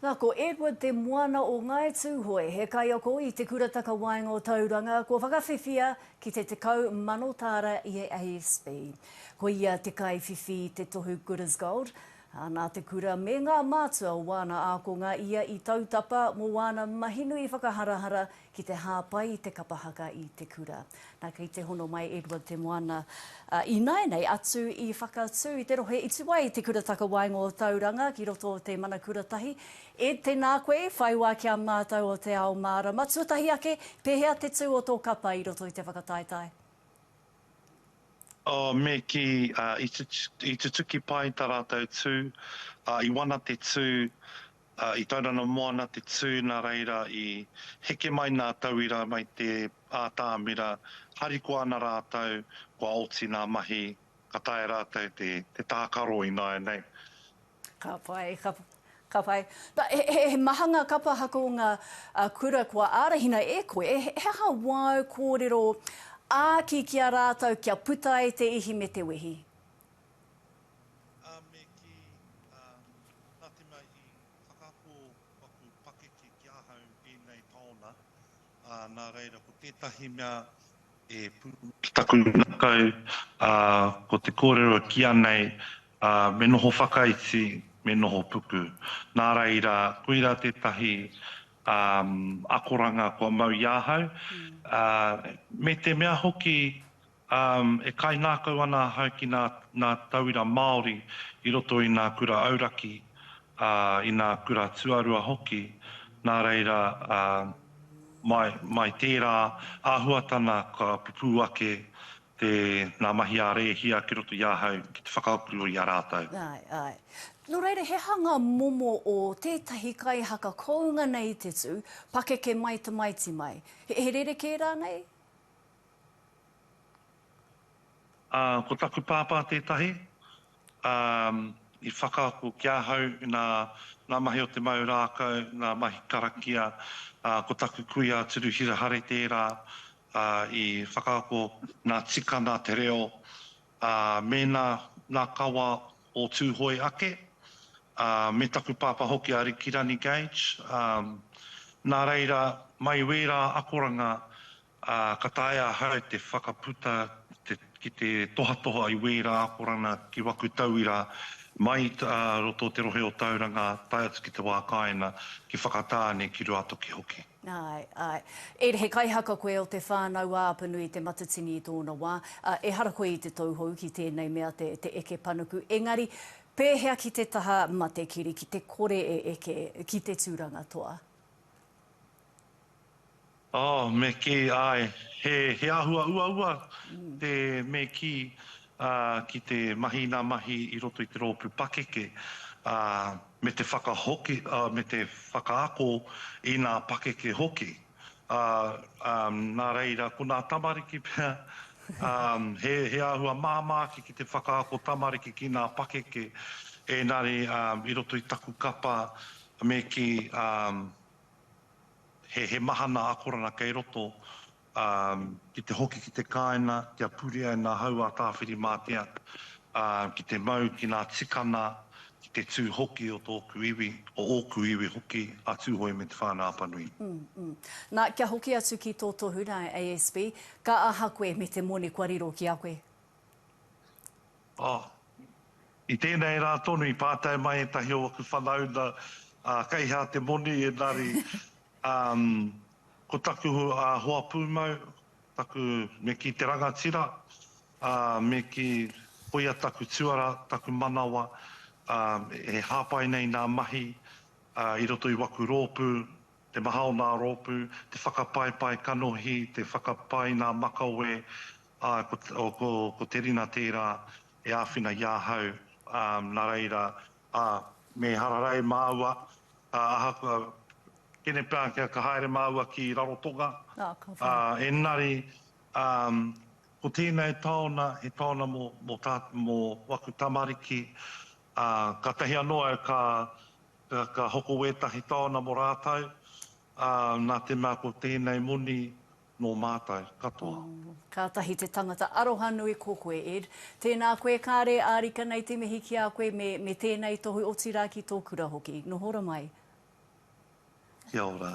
Nā, ko Edward Te Moana o Ngāi Tūhoe, he kaiako i Te Kura Takawaenga o Tauranga, kua whakawhiwhia ki te 10,000 tāra i a ASB. Ko ia te kaiwhiwhi i te tohu Good as Gold, ā, nā te kura me ngā mātua o wāna ākonga ia i tautapa mō wāna mahi nui whakaharahara ki te hāpai i te kapa haka i te kura. Nā, kei te hono mai Edward Te Moana ināianei atu i Whakatū, i te rohe i tua i Te Kura Takawaenga o Tauranga, ki roto o te mana kura tahi. Ed, tēnā koe, whai wā ki a mātou o Te Ao Mārama. Tuatahi ake, pēhea te tū o tō kapa i roto i te whakataetae? Oh, me kī, i tutuki pai tā rātou tū, i wana te tū, I Taurana Moana te tū nā reira i heke mai nā tauira mai te ātamira, harikoa ana rātou kua oti nā mahi ka taea rātou te tākaro ināianei. Ka pai, ka pai. He maha ngā kapa haka o ngā kura kua ārahina e koe, he aha wāu kōrero āki ki a rātou kia puta ai te ihi me te wehi? Ā, me kī, Ā, nā te mea i whakaako aku pakeke ki ahau ēnei taona, ā, nā reira ko tētahi mea e pū ana ki taku ngākau, ā, ko te kōrero e kīa nei, ā, me noho whakaiti, me noho puku. Nā reira, koirā tētahi, ā, akoranga kua mau i ahau, ā, me te mea hoki Um, e kaingākau ana ahau ki nā, nā tauira Māori i roto i nā kura auraki, ā, i nā kura tuarua hoki, nā reira, ā, mai, mai tērā āhuatana ka pupū ake te, nā mahi a Rēhia ki roto i ahau ki te whakakuro i a rātou. Āe, āe. Nō reira, he hanga momo o tētahi kaihaka kounga nei te tū, pakeke mai tamaiti mai. He, he rerekē rānei? Ā, ko taku pāpā tētahi, ā, i whakaako ki ahau, nā, ngā mahi o te mau rākau, ngā mahi karakia, ā, ko taku kui a Turuhira Hare tērā, ā, i whakaako ngā tika, ngā te reo, ā, mēnā ngā kawa o Tūhoe ake, ā, me taku pāpā hoki a Rikirani Gage, ā, nā reira, mai wērā akoranga, Ā, ka taea ahau te whakaputa ki te tohatoha i wērā akoranga ki waku tauira mai i roto o te rohe o Tauranga tae atu ki te wā kāinga, ki Whakatāne, ki Ruatoki hoki. Āe, āe. Ed, he kaihaka koe o te whānau a Apanui Te Matatini i tōna wā. Ā, ehara koe i te tauhou ki tēnei mea te, te eke panuku. Engari, pēhea ki te taha matekiri, ki te kore e eke, ki te tūranga toa? Oh, me kī, āe, he, he āhua uaua te me kī, ā, ki te mahi nā mahi i roto i te rōpū pakeke, ā, me te whakahoki, ā, me te whakaako i nā pakeke hoki. Ā, ā, nā reira, ko nā tamariki pea, ā, he, he āhua māmā ake ki te whakaako tamariki ki nā pakeke, ēngari, ā, i roto i taku kapa, me kī, ā, He mahana akoranga kei roto, ā, ki te hoki ki te kāinga, kia purea e ngā hau a Tāwhirimātea, ā, ki te mau ki ngā tikana, ki te tū hoki o tōku iwi, o ōku iwi hoki, a Tūhoe me Te Whānau-a-Apanui. Ū, ū. Nā, kia hoki atu ki tō tohu, nā, ASB, ka aha koe me te moni kua riro ki a koe? Ā, i tēnei rā tonu i pātai mai ētahi o aku whanauna, Ā, kei hea te moni? Engari, ā, ko taku hoa pūmau, taku, me kī te rangatira, ā, me kī, koia taku tuara, taku manawa, ā, e hāpai nei nā mahi, ā, i roto i waku rōpū, te maha o nā rōpū, te whakapaepae kanohi, te whakapae i nā makawe, Āe, ko Terina tērā e āwhina i ahau, ā, nā reira, ā, me hararei māua, ā, ahakoa, kenepeākea ka haere māua ki Rarotonga, ā, engari, ā, ko tēnei taona, he taona mō, mō tā, mō waku tamariki, ā, kātahi anō au ka, ka hoko wētahi taona mō rātou, ā, nā te mea ko tēnei moni, Nō mātou katoa. Kātahi te tangata arohanui ko koe Ed. Tēnā koe kāre ārika nei te mihi ki a koe me me tēnei tohu otirā ki tō kura hoki. Noho ra mai. Kia ora.